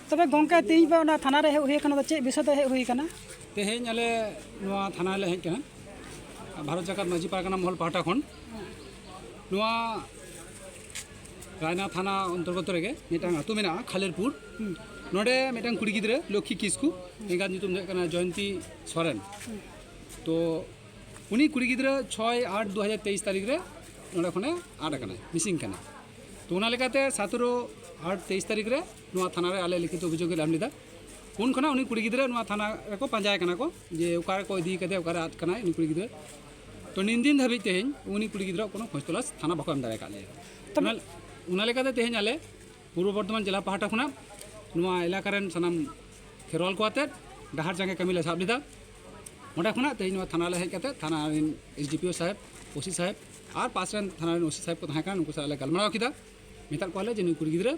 ᱛᱚᱵᱮ ᱜᱚᱝᱠᱮ ᱛᱮᱦᱮᱧ ᱯᱮ ᱚᱱᱟ ᱛᱷᱟᱱᱟ ᱨᱮ ᱦᱮᱡ ᱦᱩᱭ ᱟᱠᱟᱱᱟ ᱪᱮᱫ ᱵᱤᱥᱚᱭ ᱛᱮ ᱦᱮᱡ ᱦᱩᱭ ᱟᱠᱟᱱᱟ ᱛᱮᱦᱮᱧ ᱟᱞᱮ ᱱᱚᱣᱟ ᱛᱷᱟᱱᱟ ᱨᱮᱞᱮ ᱦᱮᱡ ᱟᱠᱟᱱᱟ ᱵᱷᱟᱨᱚᱛ ᱡᱟᱠᱟᱛ ᱢᱟᱹᱡᱷᱤ ᱯᱟᱨᱜᱟᱱᱟ ᱢᱚᱦᱚᱞ ᱯᱟᱦᱴᱟ ᱠᱷᱚᱱ ᱱᱚᱣᱟ ᱨᱟᱭᱱᱟ ᱛᱷᱟᱱᱟ ᱚᱱᱛᱚᱨᱜᱚᱛ ᱨᱮᱜᱮ ᱢᱤᱫᱴᱟᱝ ᱟᱹᱛᱩ ᱢᱮᱱᱟᱜᱼᱟ ᱠᱷᱟᱞᱮᱨᱯᱩᱨ ᱱᱚᱰᱮ ᱢᱤᱫᱴᱟᱝ ᱠᱩᱲᱤ ᱜᱤᱫᱽᱨᱟᱹ ᱞᱚᱠᱠᱷᱤ ᱠᱤᱥᱠᱩ ᱮᱸᱜᱟᱛ ᱧᱩᱛᱩᱢ ᱫᱚ ᱦᱩᱭᱩᱜ ᱠᱟᱱᱟ ᱡᱚᱭᱚᱱᱛᱤ ᱥᱚᱨᱮᱱ ᱛᱚ ᱩᱱᱤ ᱠᱩᱲᱤ ᱜᱤᱫᱽᱨᱟᱹ ᱪᱷᱚᱭ ᱟᱴ ᱫᱩ ᱦᱟᱡᱟᱨ ᱛᱮᱭᱤᱥ ᱛᱟᱹᱨᱤᱠᱷ ᱨᱮ ᱱᱚᱰᱮ ᱠᱷᱚᱱᱮ ᱟᱫ ᱟᱠᱟᱱᱟᱭ ᱢᱤᱥᱤᱝ ᱟᱠᱟᱱᱟᱭ ᱛᱚ ᱚᱱᱟ ᱞᱮᱠᱟᱛᱮ ᱥᱟᱛᱮᱨᱚ ᱟᱴ ᱛᱮᱭᱤᱥ ᱛᱟᱹᱨᱤᱠᱷ ᱨᱮ ᱱᱚᱣᱟ ᱛᱷᱟᱱᱟ ᱨᱮ ᱟᱞᱮ ᱞᱤᱠᱷᱤᱛ ᱚᱵᱷᱤᱡᱳᱜᱽ ᱞᱮ ᱮᱢ ᱞᱮᱫᱟ ᱩᱱ ᱠᱷᱚᱱᱟᱜ ᱩᱱᱤ ᱠᱩᱲᱤ ᱜᱤᱫᱽᱨᱟᱹ ᱱᱚᱣᱟ ᱛᱷᱟᱱᱟ ᱨᱮᱠᱚ ᱯᱟᱸᱡᱟᱭ ᱠᱟᱱᱟ ᱠᱚ ᱡᱮ ᱚᱠᱟ ᱨᱮᱠᱚ ᱤᱫᱤ ᱠᱟᱫᱮᱭᱟ ᱚᱠᱟᱨᱮ ᱟᱫ ᱠᱟᱱᱟᱭ ᱩᱱᱤ ᱠᱩᱲᱤ ᱜᱤᱫᱽᱨᱟᱹ ᱛᱚ ᱱᱤᱱ ᱫᱤᱱ ᱫᱷᱟᱹᱵᱤᱡ ᱛᱮᱦᱮᱧ ᱩᱱᱤ ᱠᱩᱲᱤ ᱜᱤᱫᱽᱨᱟᱹ ᱠᱳᱱᱳ ᱠᱷᱚᱡᱽ ᱛᱚᱞᱟᱥ ᱛᱷᱟᱱᱟ ᱵᱟᱠᱚ ᱮᱢ ᱫᱟᱲᱮ ᱟᱠᱟᱫ ᱞᱮᱭᱟ ᱚᱱᱟ ᱚᱱᱟ ᱞᱮᱠᱟᱛᱮ ᱛᱮᱦᱮᱧ ᱟᱞᱮ ᱯᱩᱨᱵᱚ ᱵᱚᱨᱫᱷᱚᱢᱟᱱ ᱡᱮᱞᱟ ᱯᱟᱦᱴᱟ ᱠᱷᱚᱱᱟᱜ ᱱᱚᱣᱟ ᱮᱞᱟᱠᱟ ᱨᱮᱱ ᱥᱟᱱᱟᱢ ᱠᱷᱮᱨᱣᱟᱞ ᱠᱚ ᱟᱛᱮᱫ ᱰᱟᱦᱟᱨ ᱡᱟᱸᱜᱮ ᱠᱟᱹᱢᱤ ᱞᱮ ᱥᱟᱵ ᱞᱮᱫᱟ ᱚᱸᱰᱮ ᱠᱷᱚᱱᱟᱜ ᱛᱮᱦᱮᱧ ᱱᱚᱣᱟ ᱛᱷᱟᱱᱟ ᱞᱮ ᱦᱮᱡ ᱠᱟᱛᱮᱫ ᱛᱷᱟᱱᱟ ᱨᱮᱱ ᱮᱥ ᱰᱤ ᱯᱤ ᱳ ᱥᱟᱦᱮᱵᱽ ᱳᱥᱤ ᱥᱟᱦᱮᱵᱽ ᱟᱨ ᱯᱟᱥ ᱨᱮᱱ ᱛᱷᱟᱱᱟ ᱨᱮᱱ ᱳᱥᱤ ᱥᱟᱦᱮᱵᱽ ᱠᱚ ᱛᱟᱦᱮᱸ ᱠᱟᱱᱟ ᱱᱩᱠᱩ ᱥᱟᱞᱟᱜ ᱞᱮ ᱜᱟᱞᱢᱟᱨᱟᱣ ᱠᱮᱫᱟ ᱢᱮᱛᱟᱫ ᱠᱚᱣᱟᱞᱮ ᱡᱮ ᱱᱩᱭ ᱠᱩᱲᱤ ᱜᱤᱫᱽᱨᱟᱹ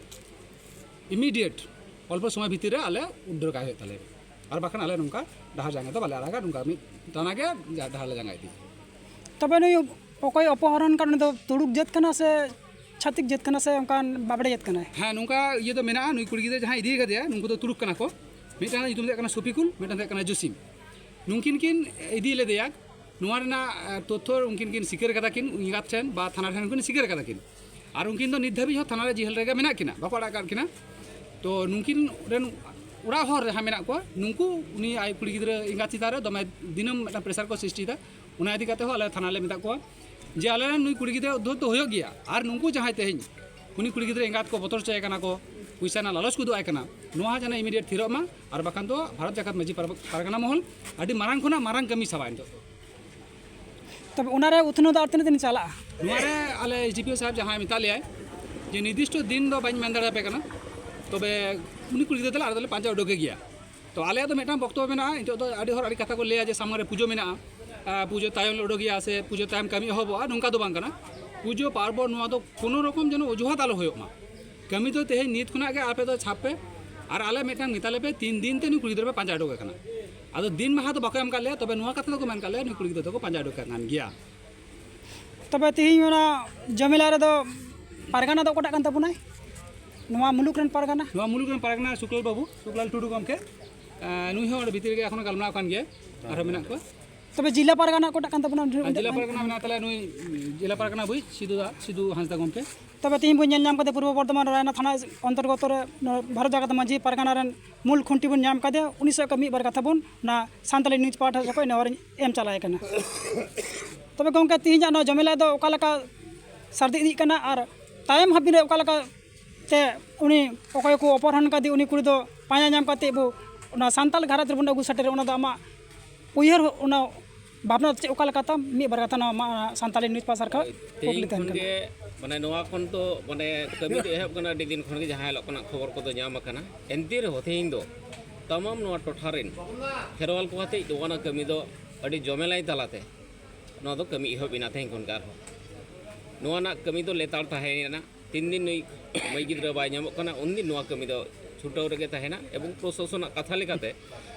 ᱤᱢᱤᱰᱤᱭᱮᱴ ᱚᱞᱯᱚ ᱥᱚᱢᱚᱭ ᱵᱷᱤᱛᱤᱨ ᱨᱮ ᱟᱞᱮ ᱩᱰᱟᱹᱨ ᱠᱟᱭ ᱦᱩᱭᱩᱜ ᱛᱟᱞᱮᱭᱟ ᱟᱨ ᱵᱟᱠᱷᱟᱱ ᱟᱞᱮ ᱱᱚᱝᱠᱟ ᱰᱟᱦᱟᱨ ᱡᱟᱸᱜᱟ ᱫᱚ ᱵᱟᱞᱮ ᱟᱲᱟᱜᱟ ᱱᱚᱝᱠᱟ ᱢᱤᱫ ᱴᱟᱱᱟ ᱜᱮ ᱰᱟᱦᱟᱨ ᱞᱮ ᱡᱟᱸᱜᱟ ᱤᱫᱤᱭᱟ ᱛᱚᱵᱮ ᱱᱩᱭ ᱚᱠᱚᱭ ᱚᱯᱚᱦᱚᱨᱚᱱ ᱠᱟᱱ ᱩᱱᱤ ᱫᱚ ᱛᱩᱲᱩᱠ ᱡᱟᱹᱛ ᱠᱟᱱᱟ ᱥᱮ ᱪᱷᱟᱛᱤᱠ ᱡᱟᱹᱛ ᱠᱟᱱᱟ ᱥᱮ ᱚᱱᱠᱟᱱ ᱵᱟᱵᱲᱮ ᱡᱟᱹᱛ ᱠᱟᱱᱟᱭ ᱦᱮᱸ ᱱᱚᱝᱠᱟ ᱤᱭᱟᱹ ᱫᱚ ᱢᱮᱱᱟᱜᱼᱟ ᱱᱩᱭ ᱠᱩᱲᱤ ᱜᱤᱫᱽᱨᱟᱹ ᱡᱟᱦᱟᱸᱭ ᱤᱫᱤ ᱠᱟᱫᱮᱭᱟ ᱱᱩᱠᱩ ᱫᱚ ᱛᱩᱲᱩᱠ ᱠᱟᱱᱟ ᱠᱚ ᱢᱤᱫᱴᱟᱝ ᱧᱩᱛᱩᱢ ᱫᱚ ᱦᱩᱭᱩᱜ ᱠᱟᱱᱟ ᱥᱚᱯᱤᱠᱩᱞ ᱢᱤᱫᱴᱟᱝ ᱫᱚ ᱦᱩᱭᱩᱜ ᱠᱟᱱᱟ ᱡᱚᱥᱤᱢ ᱱᱩᱝᱠᱤᱱ ᱠᱤᱱ ᱤᱫᱤ ᱞᱮᱫᱮᱭᱟ ᱱᱚᱣᱟ ᱨᱮᱱᱟᱜ ᱛᱚᱛᱷᱚ ᱩᱱᱠᱤᱱ ᱠᱤᱱ ᱥᱤᱠᱟᱹᱨ ᱠᱟᱫᱟ ᱠᱤᱱ ᱮᱸᱜᱟᱛ ᱴᱷᱮᱱ ᱵᱟ ᱛᱷᱟᱱᱟ ᱴᱷᱮᱱ ᱠᱤᱱ ᱥᱤᱠᱟᱹᱨ ᱠᱟᱫᱟ ᱠᱤᱱ ᱟᱨ ᱩᱱᱠᱤᱱ ᱫᱚ ᱱᱤᱛ ᱫᱷᱟᱹᱵᱤᱡ ᱦᱚᱸ ᱛᱷᱟᱱᱟ ᱨᱮ ᱡᱤᱦᱟᱹᱞ ᱨᱮᱜᱮ ᱢᱮᱱᱟᱜ ᱠᱤᱱᱟ ᱵᱟᱠᱚ ᱟᱲᱟᱜ ᱠᱟᱫ ᱠᱤᱱᱟ ᱛᱚ ᱱᱩᱠᱤᱱ ᱨᱮᱱ ᱚᱲᱟᱜ ᱦᱚᱲ ᱡᱟᱦᱟᱸ ᱢᱮᱱᱟᱜ ᱠᱚᱣᱟ ᱱᱩᱠᱩ ᱩᱱᱤ ᱟᱡ ᱠᱩᱲᱤ ᱜᱤᱫᱽᱨᱟᱹ ᱮᱸᱜᱟᱛ ᱪᱮᱛᱟᱱ ᱨᱮ ᱫᱚᱢᱮ ᱫᱤᱱᱟᱹᱢ ᱢᱤᱫᱴᱟᱝ ᱯᱨᱮᱥᱟᱨ ᱠᱚ ᱥᱨᱤᱥᱴᱤᱭᱮᱫᱟ ᱚᱱᱟ ᱤᱫᱤ ᱠᱟᱛᱮ ᱦᱚᱸ ᱟᱞᱮ ᱛᱷᱟᱱᱟ ᱞᱮ ᱢᱮᱛᱟᱫ ᱠᱚᱣᱟ ᱡᱮ ᱟᱞᱮ ᱨᱮᱱ ᱱᱩᱭ ᱠᱩᱲᱤ ᱜᱤᱫᱽᱨᱟᱹ ᱩᱫᱽᱫᱷᱚᱛ ᱫᱚ ᱦᱩᱭᱩᱜ ᱜᱮᱭᱟ ᱟᱨ ᱱᱩᱠᱩ ᱡᱟᱦᱟᱸᱭ ᱛᱮᱦᱮᱧ ᱩᱱᱤ ᱠᱩᱲᱤ ᱜᱤᱫᱽᱨᱟᱹ ᱮᱸᱜᱟᱛ ᱠᱚ ᱵᱚᱛᱚᱨ ᱦᱚᱪᱚᱭᱮ ᱠᱟᱱᱟ ᱠᱚ ᱯᱚᱭᱥᱟ ᱨᱮᱱᱟᱜ ᱞᱟᱞᱚᱪ ᱠᱚ ᱩᱫᱩᱜ ᱟᱭ ᱠᱟᱱᱟ ᱱᱚᱣᱟ ᱡᱮᱱᱚ ᱤᱢᱤᱰᱤᱭᱮᱴ ᱛᱷᱤᱨᱚᱜ ᱢᱟ ᱟᱨ ᱵᱟᱠᱷᱟᱱ ᱫᱚ ᱵᱷᱟᱨᱚᱛ ᱡᱟᱠᱟᱛ ᱢᱟᱹᱡᱷᱤ ᱯᱟᱨᱜᱟᱱᱟ ᱢᱚᱦᱚᱞ ᱟᱹᱰᱤ ᱢᱟᱨᱟᱝ ᱠᱷᱚᱱᱟᱜ ᱢᱟᱨᱟᱝ ᱠᱟᱹᱢᱤ ᱥᱟᱵᱟ ᱱᱤᱛᱚᱜ ᱫᱚ ᱛᱚᱵᱮ ᱚᱱᱟᱨᱮ ᱩᱛᱱᱟᱹᱣ ᱫᱚ ᱟᱨ ᱛᱤᱱᱟᱹᱜ ᱫᱤᱱ ᱪᱟᱞᱟᱜᱼᱟ ᱱᱚᱣᱟᱨᱮ ᱟᱞᱮ ᱮᱥ ᱰᱤ ᱯᱤ ᱳ ᱥᱟᱦᱮᱵᱽ ᱡᱟᱦᱟᱸᱭ ᱢᱮᱛᱟᱫ ᱞᱮᱭᱟᱭ ᱡᱮ ᱱᱤᱨᱫᱤᱥᱴᱚ ᱫᱤᱱ ᱫᱚ ᱵᱟᱹᱧ ᱢᱮᱱ ᱫᱟᱲᱮᱭᱟᱯᱮ ᱠᱟᱱᱟ ᱛᱚᱵᱮ ᱩᱱᱤ ᱠᱩᱲᱤ ᱜᱤᱫᱽᱨᱟᱹ ᱫᱚᱞᱮ ᱟᱞᱮ ᱫᱚᱞᱮ ᱯᱟᱸᱡᱟ ᱩᱰᱩᱠᱮ ᱜᱮᱭᱟ ᱛᱚ ᱟᱞᱮᱭᱟᱜ ᱫᱚ ᱢᱤᱫᱴᱟᱝ ᱵᱚᱠᱛᱚᱵᱚ ᱢᱮᱱᱟᱜᱼᱟ ᱱᱤᱛᱚᱜ ᱫᱚ ᱟᱹᱰᱤ ᱦᱚᱲ ᱟᱹᱰᱤ ᱠᱟᱛᱷᱟ ᱠᱚ ᱞᱟᱹᱭᱟ ᱡᱮ ᱥᱟᱢᱟᱝ ᱨᱮ ᱯᱩᱡᱟᱹ ᱢᱮᱱᱟᱜᱼᱟ ᱯᱩᱡᱟᱹ ᱛᱟᱭᱚᱢ ᱞᱮ ᱩᱰᱩᱠᱮᱭᱟ ᱥᱮ ᱯᱩᱡᱟᱹ ᱛᱟᱭᱚᱢ ᱠᱟᱹᱢᱤ ᱮᱦᱚᱵᱚᱜᱼᱟ ᱱᱚᱝᱠᱟ ᱫᱚ ᱵᱟᱝ ᱠᱟᱱᱟ ᱯᱩᱡᱟᱹ ᱯᱟᱨᱵᱚᱱ ᱱᱚᱣᱟ ᱫᱚ ᱠᱳᱱᱳ ᱨᱚᱠᱚᱢ ᱡᱮᱱᱚ ᱚᱡᱩᱦᱟᱛ ᱟᱞᱚ ᱦᱩᱭᱩᱜ ᱢᱟ ᱠᱟᱹᱢᱤ ᱫᱚ ᱛᱮᱦᱮᱧ ᱱᱤᱛ ᱠᱷᱚᱱᱟᱜ ᱜᱮ ᱟᱯᱮ ᱫᱚ ᱪᱷᱟᱯ ᱯᱮ ᱟᱨ ᱟᱞᱮ ᱢᱤᱫᱴᱟᱝ ᱢᱮᱛᱟ ᱞᱮᱯᱮ ᱛᱤᱱ ᱫᱤᱱ ᱛᱮ ᱱᱩᱭ ᱠᱩᱲᱤ ᱜᱤᱫᱽᱨᱟᱹ ᱯᱮ ᱯᱟᱸᱡᱟ ᱩᱰᱩᱠᱮ ᱠᱟᱱᱟ ᱟᱫᱚ ᱫᱤᱱ ᱢᱟᱦᱟ ᱫᱚ ᱵᱟᱠᱚ ᱮᱢ ᱠᱟᱜ ᱞᱮᱭᱟ ᱛᱚᱵᱮ ᱱᱚᱣᱟ ᱠᱟᱛᱷᱟ ᱫᱚᱠᱚ ᱢᱮᱱ ᱠᱟᱜ ᱞᱮᱭᱟ ᱱᱩᱭ ᱠᱩᱲᱤ ᱜᱤᱫᱽᱨᱟᱹ ᱫᱚᱠᱚ ᱯᱟᱸᱡᱟ ᱩᱰᱩᱠᱮ ᱠᱟᱱ ᱜᱮᱭᱟ ᱛᱚᱵᱮ ᱛᱮᱦᱮᱧ ᱚᱱᱟ ᱡᱚᱢᱮᱞᱟ ᱨᱮᱫᱚ ᱯᱟᱨᱜᱟᱱᱟ ᱫᱚ ᱚᱠᱟᱴᱟᱜ ᱠᱟᱱ ᱛᱟᱵᱚᱱᱟᱭ ᱱᱚᱣᱟ ᱢᱩᱞᱩᱠ ᱨᱮᱱ ᱯᱟᱨᱜᱟᱱᱟ ᱱᱚᱣᱟ ᱢᱩᱞᱩᱠ ᱨᱮᱱ ᱯᱟᱨᱜᱟᱱᱟ ᱥᱩᱠᱞᱟᱞ ᱵᱟᱹᱵᱩ ᱥᱩᱠᱞᱟᱞ ᱴᱩᱰᱩ ᱜᱚᱢᱠᱮ ᱱᱩᱭ ᱦᱚᱸ ᱚᱸᱰᱮ ᱵᱷᱤᱛᱤᱨ ᱨᱮᱜᱮ ᱮᱠᱷᱚᱱ ᱜᱟᱞᱢᱟᱨᱟᱣ ᱠᱟᱱ ᱜᱮᱭᱟ ᱟᱨᱦᱚᱸ ᱢᱮᱱᱟᱜ ᱠᱚᱣᱟ ᱛᱚᱵᱮ ᱡᱮᱞᱟ ᱯᱟᱨᱜᱟᱱᱟ ᱚᱠᱟᱴᱟᱜ ᱠᱟᱱ ᱛᱟᱵᱚᱱᱟ ᱡᱮᱞᱟ ᱯᱟᱨᱜᱟᱱᱟ ᱢᱮᱱᱟᱜ ᱛᱟᱞᱮᱭᱟ ᱱᱩᱭ ᱡᱮᱞᱟ ᱯᱟᱨᱜᱟᱱᱟ ᱵᱩᱡ ᱥᱤᱫᱩ ᱫᱟ ᱥᱤᱫᱩ ᱦᱟᱸᱥᱫᱟ ᱜᱚᱢᱠᱮ ᱛᱚᱵᱮ ᱛᱮᱦᱮᱧ ᱵᱚᱱ ᱧᱮᱞ ᱧᱟᱢ ᱠᱟᱫᱮ ᱯᱩᱨᱵᱚ ᱵᱚᱨᱫᱷᱚᱢᱟᱱ ᱨᱟᱭᱱᱟ ᱛᱷᱟᱱᱟ ᱚᱱᱛᱚᱨᱜᱚᱛᱚ ᱨᱮ ᱵᱷᱟᱨᱚᱛ ᱡᱟᱠᱟᱛ ᱢᱟᱹᱡᱷᱤ ᱯᱟᱨᱜᱟᱱᱟ ᱨᱮᱱ ᱢᱩᱞ ᱠᱷᱩᱱᱴᱤ ᱵᱚᱱ ᱧᱟᱢ ᱠᱟᱫᱮ ᱩᱱᱤ ᱥᱚᱭ ᱢᱤᱫ ᱵᱟᱨ ᱠᱟᱛᱷᱟ ᱵᱚᱱ ᱚᱱᱟ ᱥᱟᱱᱛᱟᱲᱤ ᱱᱤᱭᱩᱡᱽ ᱯᱟᱦᱴᱟ ᱥᱮᱫ ᱠᱷᱚᱱ ᱱᱮᱦᱚᱨ ᱮᱢ ᱪᱟᱞᱟᱭ ᱠᱟᱱᱟ ᱛᱚᱵᱮ ᱜᱚᱢᱠᱮ ᱛᱮᱦᱮᱧᱟᱜ ᱱᱚᱣᱟ ᱡᱚᱢᱮᱞᱟ ᱫᱚ ᱚᱠᱟ ᱞᱮᱠᱟ ᱥᱟᱹᱨᱫᱤ ᱤᱫᱤᱜ ᱠᱟᱱᱟ ᱟᱨ ᱛᱟᱭᱚᱢ ᱦᱟᱹᱵᱤᱡ ᱨᱮ ᱚᱠᱟ ᱞᱮᱠᱟ ᱛᱮ ᱩᱱᱤ ᱚᱠᱚᱭ ᱠᱚ ᱚᱯᱚᱦᱨᱚᱱ ᱠᱟᱫᱮ ᱩᱱᱤ ᱠᱩᱲᱤ ᱫᱚ ᱯᱟᱸᱡᱟ ᱧᱟᱢ ᱠᱟᱛᱮᱫ ᱵᱚ ᱚᱱᱟ ᱥᱟᱱᱛᱟᱲ ᱜᱷᱟᱨᱚᱸᱡᱽ ᱨᱮᱵᱚᱱ ᱟᱹᱜᱩ ᱥᱮᱴᱮᱨᱮᱭᱟ ᱚᱱᱟ ᱫᱚ ᱟᱢᱟᱜ ᱩᱭᱦᱟᱹᱨ ᱚᱱᱟ ᱵᱷᱟᱵᱽᱱᱟ ᱪᱮᱫ ᱚᱠᱟ ᱞᱮᱠᱟ ᱛᱟᱢ ᱢᱤᱫ ᱵᱟᱨ ᱠᱟᱛᱷᱟ ᱱᱚᱣᱟ ᱥᱟᱱᱛᱟᱲᱤ ᱱᱤᱭᱩᱡᱽ ᱯᱟᱥᱟᱨ ᱠᱷᱚᱱ ᱠᱩᱠᱞᱤ ᱛᱟᱦᱮᱱ ᱠᱟᱱᱟ ᱢᱟᱱᱮ ᱱᱚᱣᱟ ᱠᱷᱚᱱ ᱫᱚ ᱢᱟᱱᱮ ᱠᱟᱹᱢᱤ ᱫᱚ ᱮᱦᱚᱵ ᱠᱟᱱᱟ ᱟᱹᱰᱤ ᱫᱤᱱ ᱠᱷᱚᱱ ᱜᱮ ᱡᱟᱦᱟᱸ ᱦᱤᱞᱳᱜ ᱠᱷᱚᱱᱟᱜ ᱠᱷᱚᱵᱚᱨ ᱠᱚᱫᱚ ᱧᱟᱢ ᱟᱠᱟᱱᱟ ᱮᱱᱛᱮ ᱨᱮᱦᱚᱸ ᱛᱮᱦᱮᱧ ᱫᱚ ᱛᱟᱢᱟᱢ ᱱᱚᱣᱟ ᱴᱚᱴᱷᱟ ᱨᱮᱱ ᱠᱷᱮᱨᱣᱟᱞ ᱠᱚ ᱟᱛᱮ ᱫᱚ ᱚᱱᱟ ᱠᱟᱹᱢᱤ ᱫᱚ ᱟᱹᱰᱤ ᱡᱚᱢᱮᱞᱟᱭ ᱛᱟᱞᱟᱛᱮ ᱱᱚᱣᱟ ᱫᱚ ᱠᱟᱹᱢᱤ ᱮᱦᱚᱵ ᱮᱱᱟ ᱛᱮᱦᱮᱧ ᱠᱷᱚᱱ ᱜᱮ ᱟᱨᱦᱚᱸ ᱱᱚᱣᱟ ᱨᱮᱱᱟᱜ ᱠᱟᱹᱢᱤ ᱫᱚ ᱞᱮᱛᱟᱲ ᱛᱟᱦᱮᱸᱭᱮᱱᱟ ᱛᱤᱱ ᱫᱤᱱ ᱱᱩᱭ ᱢᱟᱹᱭ ᱜᱤᱫᱽᱨᱟᱹ ᱵᱟᱭ ᱧᱟᱢᱚᱜ ᱠᱟᱱᱟ ᱩᱱ ᱫᱤᱱ ᱱᱚᱣᱟ ᱠᱟᱹᱢᱤ ᱫᱚ ᱪᱷᱩᱴᱟᱹᱣ ᱨᱮᱜᱮ ᱛᱟᱦᱮᱱᱟ ᱮᱵᱚᱝ ᱯᱨᱚᱥᱟᱥᱚᱱᱟᱜ ᱠᱟᱛᱷᱟ ᱞᱮᱠᱟᱛᱮ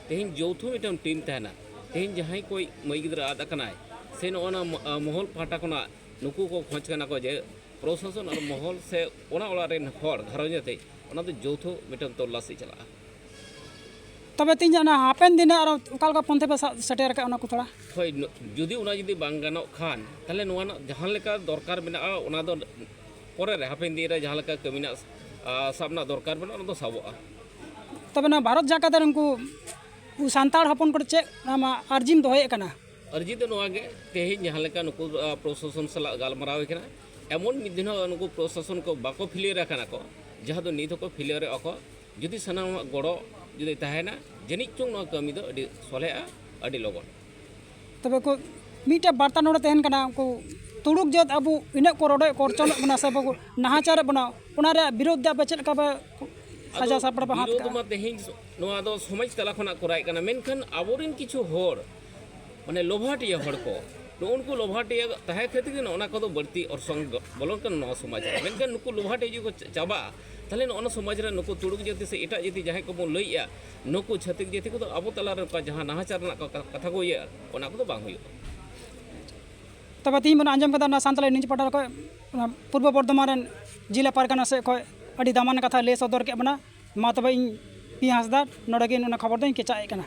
ᱛᱮᱦᱮᱧ ᱡᱚᱣᱛᱷᱚ ᱢᱤᱫᱴᱟᱝ ᱴᱤᱢ ᱛᱟᱦᱮᱱᱟ ᱛᱮᱦᱮᱧ ᱡᱟᱦᱟᱸᱭ ᱠᱚ ᱢᱟᱹᱭ ᱜᱤᱫᱽᱨᱟᱹ ᱟᱫ ᱟᱠᱟᱱᱟᱭ ᱥᱮ ᱱᱚᱜᱼᱚ ᱱᱟ ᱢᱚᱦᱚᱞ ᱯᱟᱦᱴᱟ ᱠᱷᱚᱱᱟᱜ ᱱᱩᱠᱩ ᱠᱚ ᱠᱷᱚᱡᱽ ᱠᱟᱱᱟ ᱠᱚ ᱡᱮ ᱯᱨᱚᱥᱟᱥᱚᱱ ᱟᱨ ᱢᱚᱦᱚᱞ ᱥᱮ ᱚᱱᱟ ᱚᱲᱟᱜ ᱨᱮᱱ ᱦᱚᱲ ᱜᱷᱟᱨᱚᱸᱡᱽ ᱟᱛᱮ ᱚᱱᱟ ᱫᱚ ᱡᱚᱣᱛᱷᱚ ᱢᱤᱫᱴᱟᱝ ᱛᱚᱞᱞᱟᱥᱤ ᱪᱟᱞᱟᱜᱼᱟ ᱛᱚᱵᱮ ᱛᱤᱧ ᱚᱱᱟ ᱦᱟᱯᱮᱱ ᱫᱤᱱ ᱟᱨ ᱚᱠᱟ ᱞᱮᱠᱟ ᱯᱚᱱᱛᱷᱟ ᱯᱮ ᱥᱟᱵ ᱥᱮᱴᱮᱨ ᱟᱠᱟᱫ ᱚᱱᱟ ᱠᱚ ᱛᱷᱚᱲᱟ ᱦᱳᱭ ᱡᱩᱫᱤ ᱚᱱᱟ ᱡᱩᱫᱤ ᱵᱟᱝ ᱜᱟᱱᱚᱜ ᱠᱷᱟᱱ ᱛᱟᱦᱞᱮ ᱱᱚᱣᱟ ᱨᱮᱱᱟᱜ ᱡᱟᱦᱟᱸ ᱞᱮᱠᱟ ᱫᱚᱨᱠᱟᱨ ᱢᱮᱱᱟᱜᱼᱟ ᱚᱱᱟ ᱫᱚ ᱯᱚᱨᱮ ᱨᱮ ᱦᱟᱯᱮᱱ ᱫᱤᱱ ᱨᱮ ᱡᱟᱦᱟᱸ ᱞᱮᱠᱟ ᱠᱟᱹᱢᱤ ᱨᱮᱱᱟᱜ ᱥᱟᱵ ᱨᱮᱱᱟᱜ ᱫᱚᱨᱠᱟᱨ ᱢᱮᱱᱟᱜᱼᱟ ᱚᱱᱟ ᱫᱚ ᱥᱟᱵᱚᱜᱼᱟ ᱛᱚᱵᱮ ᱱᱚᱣᱟ ᱵᱷᱟᱨᱚᱛ ᱡᱟᱠᱟᱛ ᱨᱮ ᱩᱱᱠᱩ ᱥᱟᱱᱛᱟᱲ ᱦᱚᱯᱚᱱ ᱠᱚ ᱪᱮᱫ ᱟᱢᱟᱜ ᱟᱨᱡᱤᱢ ᱫᱚᱦᱚᱭᱮᱫ ᱠᱟᱱᱟ ᱟᱨᱡᱤ ᱫᱚ ᱱᱚᱣᱟ ᱜᱮ ᱛᱮᱦᱮᱧ ᱡᱟᱦᱟᱸ ᱞᱮᱠᱟ ᱱᱩᱠᱩ ᱯᱨᱚᱥᱟᱥᱚᱱ ᱥᱟᱞᱟᱜ ᱜᱟᱞᱢᱟᱨᱟᱣ ᱦᱩᱭ ᱠᱟᱱᱟ ᱮᱢᱚᱱ ᱢᱤᱫ ᱫᱤᱱ ᱦᱚᱸ ᱱᱩᱠᱩ ᱯᱨᱚᱥᱟᱥᱚᱱ ᱠᱚ ᱵᱟᱠᱚ ᱯᱷᱤᱞᱤᱭᱟᱨ ᱟᱠᱟᱱᱟ ᱠᱚ ᱡᱟᱦᱟᱸ ᱫᱚ ᱱᱤᱛ ᱦᱚᱸᱠᱚ ᱯᱷᱤᱞᱤᱭᱟᱨᱚᱜᱼᱟ ᱠᱚ ᱡᱩᱫᱤ ᱥᱟᱱᱟᱢᱟᱜ ᱜᱚᱲᱚ ᱡᱩᱫᱤ ᱛᱟᱦᱮᱱᱟ ᱡᱟᱹᱱᱤᱡ ᱪᱚᱝ ᱱᱚᱣᱟ ᱠᱟᱹᱢᱤ ᱫᱚ ᱟᱹᱰᱤ ᱥᱚᱞᱦᱮᱜᱼᱟ ᱟᱹᱰᱤ ᱞᱚᱜᱚᱱ ᱛᱚᱵᱮ ᱠᱚ ᱢᱤᱫᱴᱮᱡ ᱵᱟᱨᱛᱟ ᱱᱚᱰᱮ ᱛᱟᱦᱮᱱ ᱠᱟᱱᱟ ᱩᱱᱠᱩ ᱛᱩᱲᱩᱠ ᱡᱟᱹᱛ ᱟᱵᱚ ᱤᱱᱟᱹᱜ ᱠᱚ ᱨᱚᱰᱚᱡ ᱠᱚᱨᱪᱚᱱᱚᱜ ᱵᱚᱱᱟ ᱥᱮ ᱵᱟᱠᱚ ᱱᱟᱦᱟᱪᱟᱨᱮᱫ ᱵᱚᱱᱟ ᱚᱱᱟ ᱨᱮᱭᱟᱜ ᱵᱤᱨᱳᱫᱷ ᱫᱚ ᱟᱯᱮ ᱪᱮᱫ ᱞᱮᱠᱟ ᱯᱮ ᱥᱟᱡᱟᱣ ᱥᱟᱯᱲᱟᱣ ᱯᱮ ᱦᱟᱛ ᱵᱤᱨᱳᱫᱷ ᱢᱟ ᱛᱮᱦᱮᱧ ᱱᱚᱣᱟ ᱫᱚ ᱥᱚᱢᱟᱡᱽ ᱛᱟᱞᱟ ᱠᱷᱚᱱᱟᱜ ᱠᱚᱨᱟᱣᱮᱫ ᱠᱟᱱᱟ ᱢᱮᱱᱠᱷᱟᱱ ᱟᱵᱚᱨᱮᱱ ᱠᱤᱪᱷᱩ ᱦᱚᱲ ᱢᱟᱱᱮ ᱞᱚᱵᱷᱟᱴᱤᱭᱟᱹ ᱦᱚᱲ ᱠᱚ ᱱᱩᱜᱼᱩ ᱱᱩᱠᱩ ᱞᱚᱵᱷᱟᱴᱤᱭᱟᱹ ᱛᱟᱦᱮᱸ ᱠᱷᱟᱹᱛᱤᱨ ᱜᱮ ᱱᱚᱜᱼᱚ ᱱᱟ ᱠᱚᱫᱚ ᱵᱟᱹᱲᱛᱤ ᱚᱨᱥᱚᱝ ᱵᱚᱞᱚᱱ ᱠᱟᱱᱟ ᱱᱚᱣᱟ ᱥᱚᱢᱟᱡᱽ ᱨᱮ ᱢᱮᱱᱠᱷᱟᱱ ᱱᱩᱠᱩ ᱞᱚᱵᱷᱟᱴᱤᱭᱟᱹ ᱡᱩᱫᱤ ᱠᱚ ᱪᱟᱵᱟᱜᱼᱟ ᱛᱟᱦᱚᱞᱮ ᱱᱚᱜᱼᱚ ᱥᱚᱢᱟᱡᱽ ᱨᱮ ᱱᱩᱠᱩ ᱛᱩᱲᱩᱠ ᱡᱟᱹᱛᱤ ᱥᱮ ᱮᱴᱟᱜ ᱡᱟᱹᱛᱤ ᱡᱟᱦᱟᱸᱭ ᱠᱚᱵᱚᱱ ᱞᱟᱹᱭᱮᱜᱼᱟ ᱱᱩᱠᱩ ᱪᱷᱟᱹᱛᱤᱠ ᱡᱟᱹᱛᱤ ᱠᱚᱫᱚ ᱟᱵᱚ ᱛᱟᱞᱟᱨᱮ ᱚᱱᱠᱟ ᱡᱟᱦᱟᱸ ᱱᱟᱦᱟᱪᱟᱨ ᱨᱮᱱᱟᱜ ᱠᱟᱛᱷᱟ ᱠᱚ ᱤᱭᱟᱹᱜᱼᱟ ᱚᱱᱟ ᱠᱚᱫᱚ ᱵᱟᱝ ᱦᱩᱭᱩᱜᱼᱟ ᱛᱚᱵᱮ ᱛᱮᱦᱮᱧ ᱵᱚᱱ ᱟᱸᱡᱚᱢ ᱠᱟᱫᱟ ᱚᱱᱟ ᱥᱟᱱᱛᱟᱲᱤ ᱱᱤᱭᱩᱡᱽ ᱯᱳᱨᱴᱟᱞ ᱠᱷᱚᱱ ᱚᱱᱟ ᱯᱩᱨᱵᱚ ᱵᱚᱨᱫᱷᱚᱢᱟᱱ ᱨᱮᱱ ᱡᱮᱞᱟ ᱯᱟᱨᱜᱟᱱᱟ ᱥᱮᱫ ᱠᱷᱚᱱ ᱟᱹᱰᱤ ᱫᱟᱢᱟᱱ ᱠᱟᱛᱷᱟ ᱞᱟᱹᱭ ᱥᱚᱫᱚᱨ ᱠᱮᱫ ᱵᱚᱱᱟ ᱢᱟ ᱛᱚᱵᱮ ᱤᱧ ᱯᱤ ᱦᱟᱸᱥᱫᱟ ᱱᱚᱰᱮ ᱜᱮ ᱚᱱᱟ ᱠᱷᱚᱵᱚᱨ ᱫᱚᱧ ᱠᱮᱪᱟᱜ ᱮᱫ ᱠᱟᱱᱟ